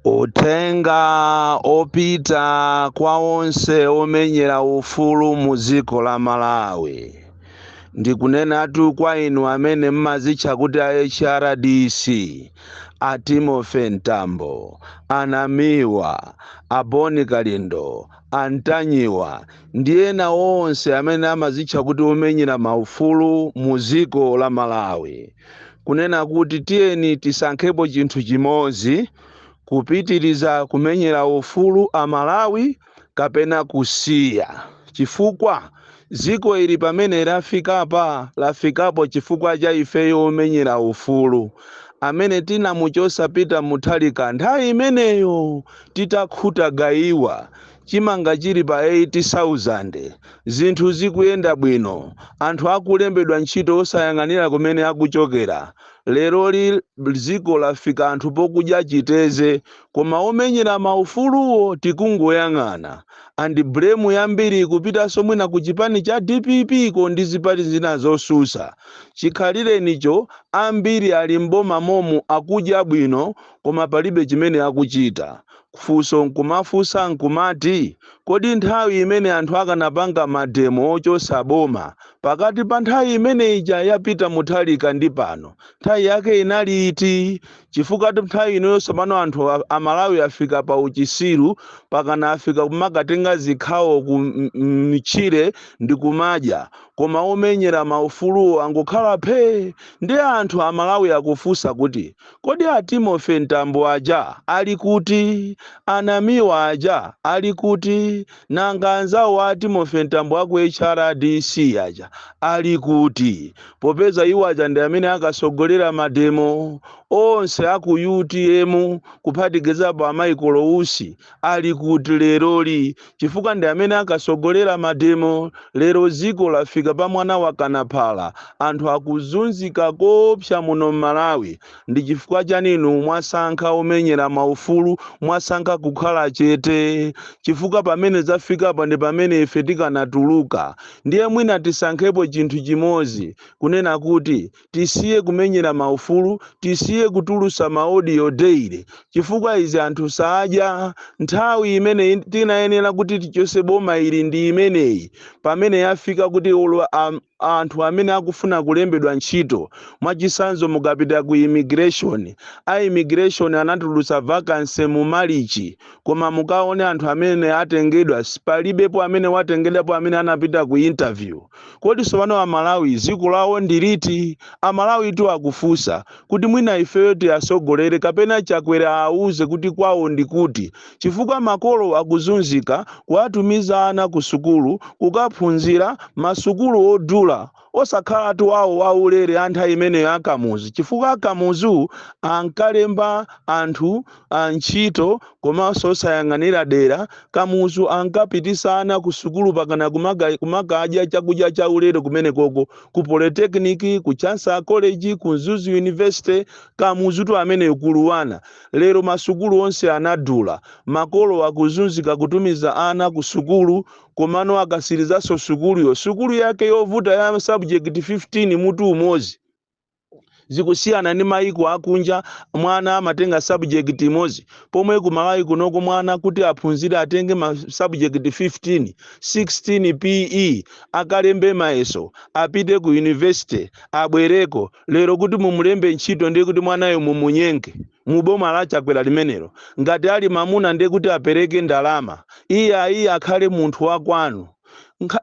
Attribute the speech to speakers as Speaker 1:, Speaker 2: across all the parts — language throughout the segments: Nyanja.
Speaker 1: uthenga opita kwa onse omenyera ufulu mu dziko la malawi ndikunenatu kwa inu amene mmazitcha kuti a hrdc a timothy mtambo a namiwa a bon kalindo a ntanyiwa ndi ena onse amene amazitcha kuti omenyera maufulu mu dziko la malawi kunena kuti tiyeni tisankhepo chinthu chimodzi, kupitiriza kumenyera ufulu a Malawi kapena kusiya. Chifukwa dziko ili pamene lafikapa, lafikapo chifukwa cha ifeyo omenyera ufulu amene tinamuchotsa Peter Mutharika nthawi imeneyo titakhuta gayiwa Chimanga chili pa 8000, zinthu zikuyenda bwino, anthu akulembedwa ntchito osayang'anira kumene akuchokera. Leroli dziko lafika anthu pokudya chiteze koma omenyera ma ufuluwo tikungoyang'ana. And blame yambiri ikupitanso mwina ku chipani cha dpp ko ndi zipani zina zosusa. Chikhalirenicho ambiri ali m'boma momu akudya bwino koma palibe chimene akuchita. Funso nkumafunsa nkumati, kodi nthawi imene anthu akanapangira mademo ochosa boma pakati pa nthawi imene ija ya Peter Mutharika ndi pano nthawi yake inali iti? Chifukwa nthawi inoyo tsopano anthu a Malawi afika pa uchisiru pakana afika kumakatenga zikhawo ku mtchire ndikumadya koma omenyera maufuluwo angokhala phee! Ndiye anthu a Malawi akufunsa kuti Kodi a Timothy Mtambo aja ali kuti? A Namiwa aja ali kuti? Nanga anzawo a Timothy Mtambo a ku HRDC aja ali kuti? Popeza iwo aja ndi amene akasogolera mademo onse a ku utm kuphatikizapo a Michael Usi Ali kuti leroli chifukwa ndi amene akasogolera mademo lero dziko lafika pa mwana wakana phala anthu akuzunzika koopsa muno mmalawi ndi chifukwa chani inu mwasankha omenyera ma ufulu mwasankha kukhala chete chifukwa pamene zafikapa ndi pamene ife tikanatuluka ndiye mwina tisankhepo chinthu chimodzi kunena kuti tisiye kumenyera maufulu tisiye kutulusa maodio daily chifukwa izi anthu sadya nthawi imene in- tinayenera kuti tichose boma ili ndi imeneyi pamene yafika kuti olo am- anthu amene akufuna kulembedwa ntchito mwachisanzo mukapita ku immigration a immigration anatulusa vacancy mu malichi koma mukaone anthu amene atengedwa palibepo amene watengedwapo amene anapita ku interview Kodi tsopano a Malawi dziko lawo ndi liti? A Malawi tu akufunsa kuti mwina ifeyo tiatsogolere kapena Chakwera aawuze kuti kwawo ndi kuti chifukwa makolo akuzunzika kuwatumiza ana ku sukulu kukaphunzira masukulu odula osakhalatu awo a ulere a nthawi imeneyo a Kamuzu chifukwa a Kamuzu ankalemba anthu ntchito komanso osayang'anira dera, Kamuzu ankapitisa ana ku sukulu pakana kumakadya chakudya cha ulere kumenekoko, ku Polytechnic, ku Chancellor College, ku Mzuzu University, Kamuzutu ameneyo Kuluwana. Lero masukulu onse anadula, makolo akuzunzika kutumiza ana ku sukulu komano akatsirizanso sukuluyo, sukulu yake yovuta ya ma subject 15 mutu umodzi. zikusiyana ndi mayiko akunja mwana amatenga subject imodzi pomwe ku malawi kunoko mwana kuti aphunzire atenge ma subject 15 16 PE akalembe mayeso apite ku university abwereko lero kuti mumulembe ntchito ndiye kuti mwanayo mumunyenge muboma la chakwera limenelo ngati ali mamuna ndiye kuti apereke ndalama iyayi akhale munthu wakwanu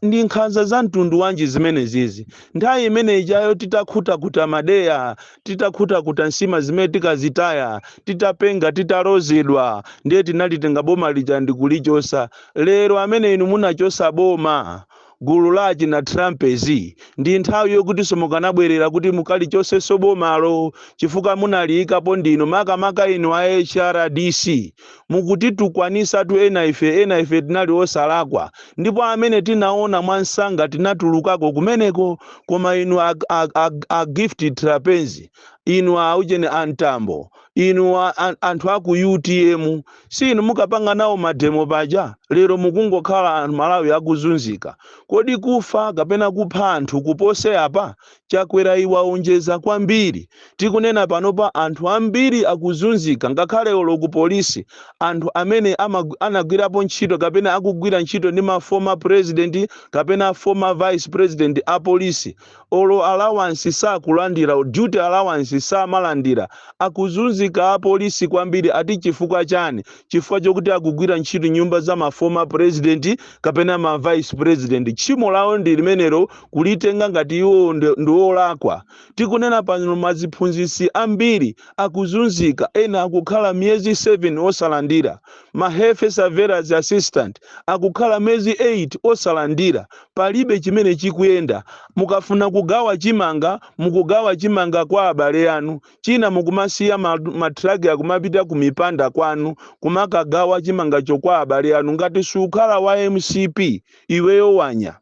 Speaker 1: Ndi nkhanza za mtundu wanji zimenezizi? Nthawi imene ijayo titakhutakuta madeya, titakhutakuta nsima zimene tikazitaya, titapenga, titalozedwa, ndiye tinalitenga boma lija ndikulichosa. Lero amene inu munachosa boma, gulu la achina Trapence, ndi nthawi yokutinso mukanabwerera kuti mukalichosenso bomalo chifukwa munaliyikapo ndinu, makamaka inu a HRDC. Mukutitukwanisatu ena ife ena ife tinali osalakwa ndipo amene tinaona mwamsanga tinatulukako kumeneko koma inu a, a, a, a Gift Trapence inu a ujeni a Mtambo inu a, a, anthu a ku UTM si inu mukapanga nawo mademo paja lero mukungokhala anthu Malawi akuzunzika kodi kufa kapena kupha anthu kupose apa Chakwera iwe waonjeza kwambiri. Tikunena panopa anthu ambiri akuzunzika ngakhale olo ku police anthu amene anagwirapo ntchito kapena akugwira ntchito ndi ma former president kapena former vice president a police olo allowance sakulandira duty allowance samalandira. Akuzunzika a police kwambiri ati chifukwa chani? Chifukwa chokuti akugwira ntchito nyumba za ma former president kapena ma vice president. Tchimo lawo ndi limenelo. kulitenga ngati iwo ndi, ndi olakwa. Tikunena pano maziphunzitsi ambiri akuzunzika, ena akukhala miyezi 7 osalandira, ma health surveillance assistant akukhala miyezi 8 osalandira, palibe chimene chikuyenda. Mukafuna kugawa chimanga, mukugawa chimanga kwa abale anu, china mukumasiya ma, ma truck akumapita ku mipanda kwanu kumakagawa chimangacho kwa abale anu. Ngati sukhala wa MCP iweyo wanya.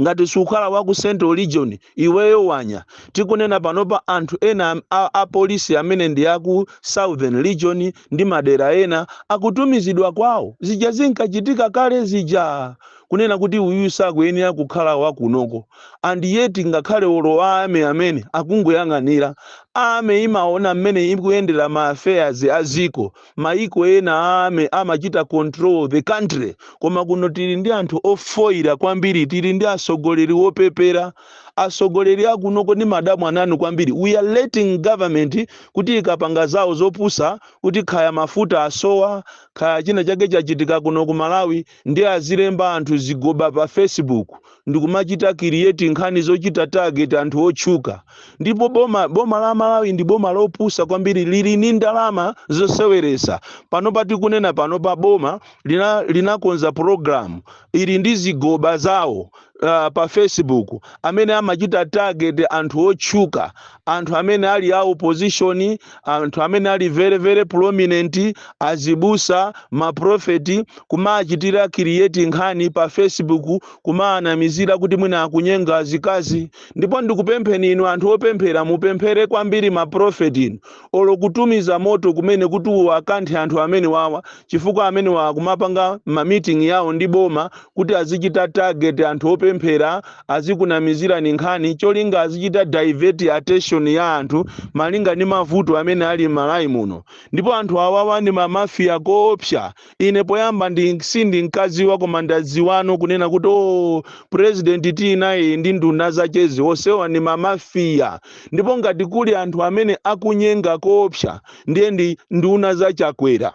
Speaker 1: ngati sukhala wa ku central region iweyo wanya tikunena panopa anthu ena am- a, a polisi amene ndi aku southern region ndi madera ena akutumizidwa kwawo zija zinkachitika kale zija kunena kuti uyu sakuyenera kukhala wakunoko and yet ngakhale olo a army amene akungoyang'anira army imaona mmene ikuyendera ma affairs a ziko Maiko ena a army amachita control the country koma kuno tili ndi anthu ofoira kwambiri tili ndi asogoleri opepera asogoleri akunoko ndimadabwa nawo kwambiri we are letting government kuti ikapanga zawo zopusa kuti khaya mafuta asowa khaya china chake chachitika kuno ku Malawi ndiye azilemba anthu zigoba pa Facebook ndikumachita create nkhani zochita target anthu otchuka ndipo boma boma la malawi ndi boma lopusa kwambiri lili ndi ndalama zoseweresa panopa tikunena panopa boma lina- linakonza program ili ndi zigoba zawo uh, pa facebook amene amachita target anthu otchuka anthu amene ali a opposition anthu amene ali very very prominent azibusa maprofeti kumachitira create nkhani pa facebook kumaanamizira kuti mwina akunyenga azikazi ndipo ndikupempheni inu anthu opemphera mupemphere kwambiri maprofeti inu olo kutumiza moto kumene kuti uwakanthe anthu amenewawa chifukwa amenewawa kumapanga ma meeting yawo ndi boma kuti azichita target anthu opemphera azikunamizirani nkhani cholinga azichita divert attention ya anthu malinga ndi mavuto amene ali m'malawi muno ndipo anthu awawa ndi mamafiya koopsa ine poyamba ndi sindinkaziwa koma ndaziwano kunena kuti o president tili nawoyi ndi nduna zachezi onsewa ndi mamafiya ndipo ngati kuli anthu amene akunyenga koopsa ndiye ndi nduna za Chakwera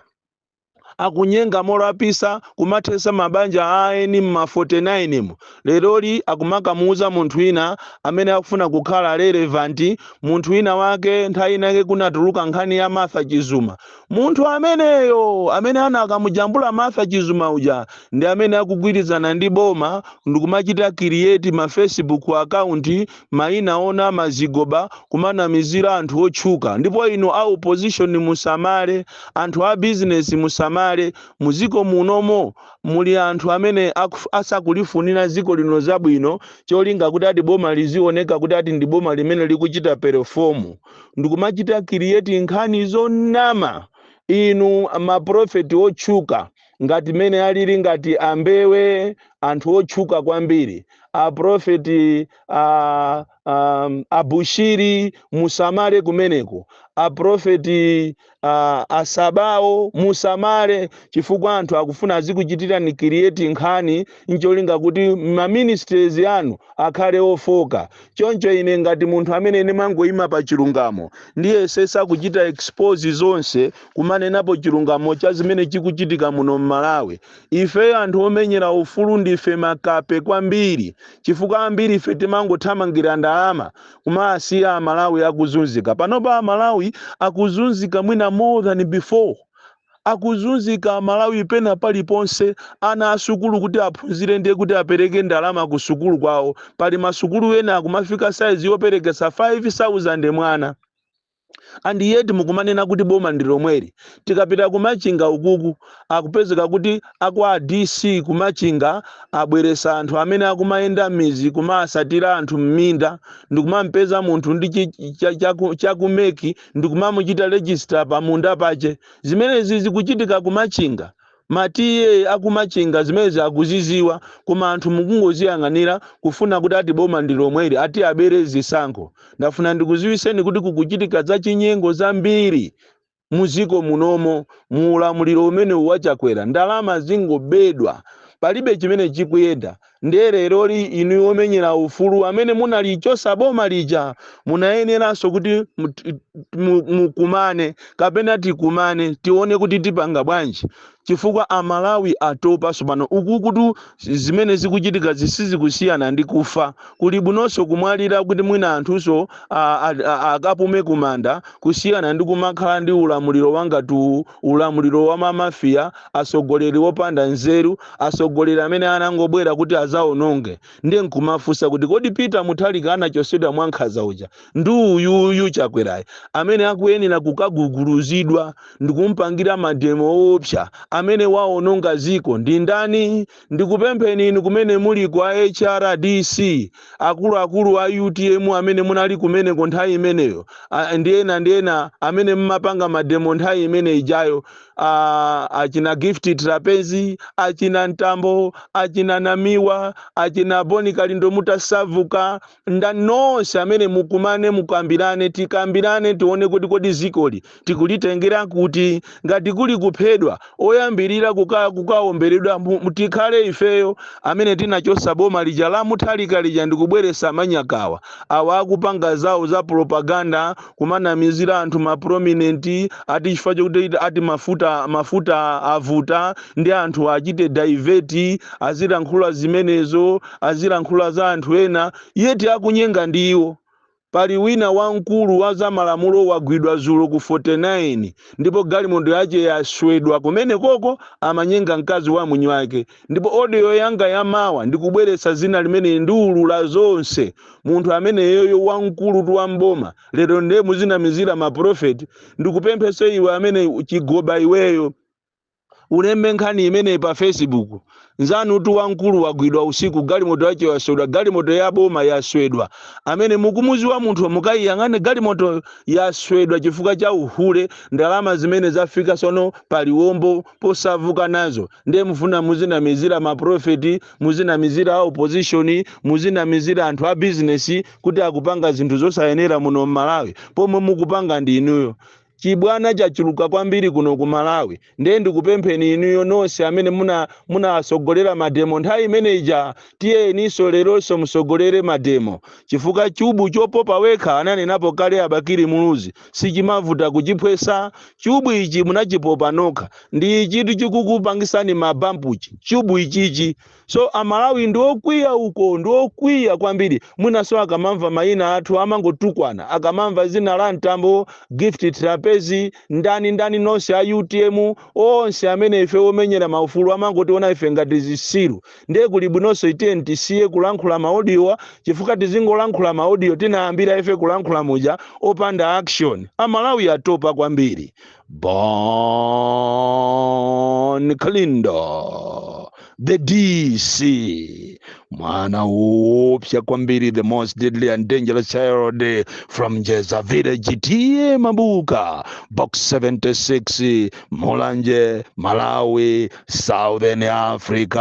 Speaker 1: akunyenga molapisa kumathesa mabanja aeni mma 49 mo, leroli akumakamuuza munthu wina amene akufuna kukhala relevant munthu wina wake nthawi ina yake kunatuluka nkhani ya Martha Chizuma munthu ameneyo amene anakamujambula Martha Chizuma uja ndi amene akugwirizana ndi boma ndikumachita create ma facebook account maina onama zigoba kumanamizira anthu otchuka ndipo inu a opposition musamale anthu a business musamale muziko munomo muli anthu amene akuf- asakulifunira ziko lino zabwino cholinga kuti ati boma lizioneka kuti ati ndi boma limene likuchita perform ndikumachita create nkhani zonama inu maprofeti otchuka ngati mmene alili ngati a Mbewe anthu otchuka kwambiri aprofeti a, a, a Bushiri musamale kumeneko aprofeti a, asabawo musamale chifukwa anthu akufuna azikuchitirani create nkhani ncholinga kuti ma ministries anu akhale ofoka choncho ine ngati munthu amene ndimangoyima pa chilungamo ndiyesesa kuchita expose zonse kumanenapo chilungamo cha zimene chikuchitika muno m'malawi ife anthu omenyera ufulu ndife makape kwambiri chifukwa ambiri ife timangothamangira ndalama kumawasiya a Malawi akuzunzika panopa a Malawi akuzunzika mwina more than before akuzunzika a Malawi pena paliponse ana asukulu kuti aphunzire ndiye kuti apereke ndalama ku sukulu kwawo pali masukulu ena akumafika size yoperekesa 5000 mwana and yet mukumanena kuti boma ndi lomweli. Tikapita ku Machinga ukuku akupezeka kuti a kwa a DC ku Machinga abweresa anthu amene akumayenda mmidzi kumaasatira anthu mminda ndikumampeza munthu ndi cha ku MEC ndikumamuchita register pa munda pache. Zimenezi zikuchitika ku Machinga. ma TA aku Machinga zimenezi akuziziwa koma anthu mukungoziyang'anira kufuna kuti ati boma ndi lomweli ati abere zisankho. Ndafuna ndikuziwiseni kuti kukuchitika za chinyengo zambiri mu ziko munomo mu ulamuliro umenewu wa Chakwera. Ndalama zingobedwa palibe chimene chikuyenda Ndiye leroli inu omenyera ufulu amene munalichosa boma lija munayeneranso kuti mukumane kapena tikumane tione kuti tipanga bwanji chifukwa a Malawi atopa sopano ukukutu zimene zikuchitikazi sizikusiyana ndi kufa kulibwinonso kumwalira kuti mwina anthunso akapume kumanda kusiyana ndi kumakhala ndi ulamuliro wangati uwu Ulamuliro wa ma Mafia, atsogoleri opanda nzeru, atsogoleri amene anangobwera kuti adzaononge. Ndiye nkumafunsa kuti kodi Peter Mutharika anachotsedwa mwankhaza uja ndi uyuyu Chakwerayi amene akuyenera kukaguguluzidwa ndikumupangira mademo oopsa amene waononga dziko ndi ndani? Ndikupempheni inu kumene muliko a HRDC, akuluakulu a UTM amene munali kumeneko nthawi imeneyo, a, ndi ena ndi ena amene mmapanga mademo nthawi imene ijayo, a, achina Gift Trapence, achina Mtambo, achina Namiwa, achina Boni Kalindo mutasavuka, ndan nonse amene mukumane mukambirane tikambirane tione kuti kodi zikoli tikulitengera kuti ngati kuli kuphedwa oyambirira kuka, kukaomberedwa mu- mu- tikhale ifeyo amene tinachosa boma lija la Mutharika lija ndikubweresa manyakawa awa akupanga zawo za propaganda kumanamizira anthu ma prominent ati chifukwa chokuti ati mafuta mafuta avuta ndi anthu achite divert azilankhula zimenezo azilankhula za anthu ena yet akunyenga ndiwo. Pali wina wamkulu wa za malamulo wagwidwa zulo ku 49 ndipo galimoto yake yaswedwa kumenekoko amanyenga mkazi wa mwini wake ndipo audio yanga ya mawa ndikubweretsa dzina limene ndiulula zonse munthu ameneyoyo wamkulutu wa mboma lero ndiye muzinamizira maprofeti ndikupemphenso iwe amene chigoba iweyo ulembe nkhani imeneyi pa facebook nzanutu wamkulu wagwidwa usiku galimoto yake yaswedwa galimoto ya boma yaswedwa amene mukumuziwa munthu mukayiyang'ane galimoto yaswedwa chifukwa cha uhule ndi ndalama zimene zafika tsono pa liwombo posavuka nazo ndiye mufuna muzinamizira maprofeti muzinamizira a opposition muzinamizira anthu a bizinesi kuti akupanga zinthu zosayenera muno mmalawi pomwe mukupanga ndi inuyo Chibwana chachuluka kwambiri kuno ku Malawi nde ndikupempheni inuyo nonse amene muna munawasogolera mademo nthawi imene ija tiyeninso leronso musogolere mademo chifukwa chubu chopopa wekha ananenapo kale a Bakili Muluzi sichimavuta kuchiphwesa chubu ichi munachipopa nokha ndi ichitu chikukupangitsani ma bump chi chubu ichichi So amalawi ndiokwiya uko ndiokwiya kwambiri mwinaso akamamva maina athu amangotukwana akamamva zina la mtambo gift Trapence ndani ndani nonse a utm onse amene ife omenyera maufulu amangotiona ife ngati zisiru ndiye kuli bwinonso tiyeni tisiye kulankhula maodiyo chifukwa tizingolankhula maodiyo tinayambira ife kulankhula muja opanda action amalawi atopa kwambiri Bon Kalindo, the DC, mwana upya kwambiri, the most deadly and dangerous child from Jeza village, TM Mabuka, box 76, Mulanje, Malawi, Southern Africa.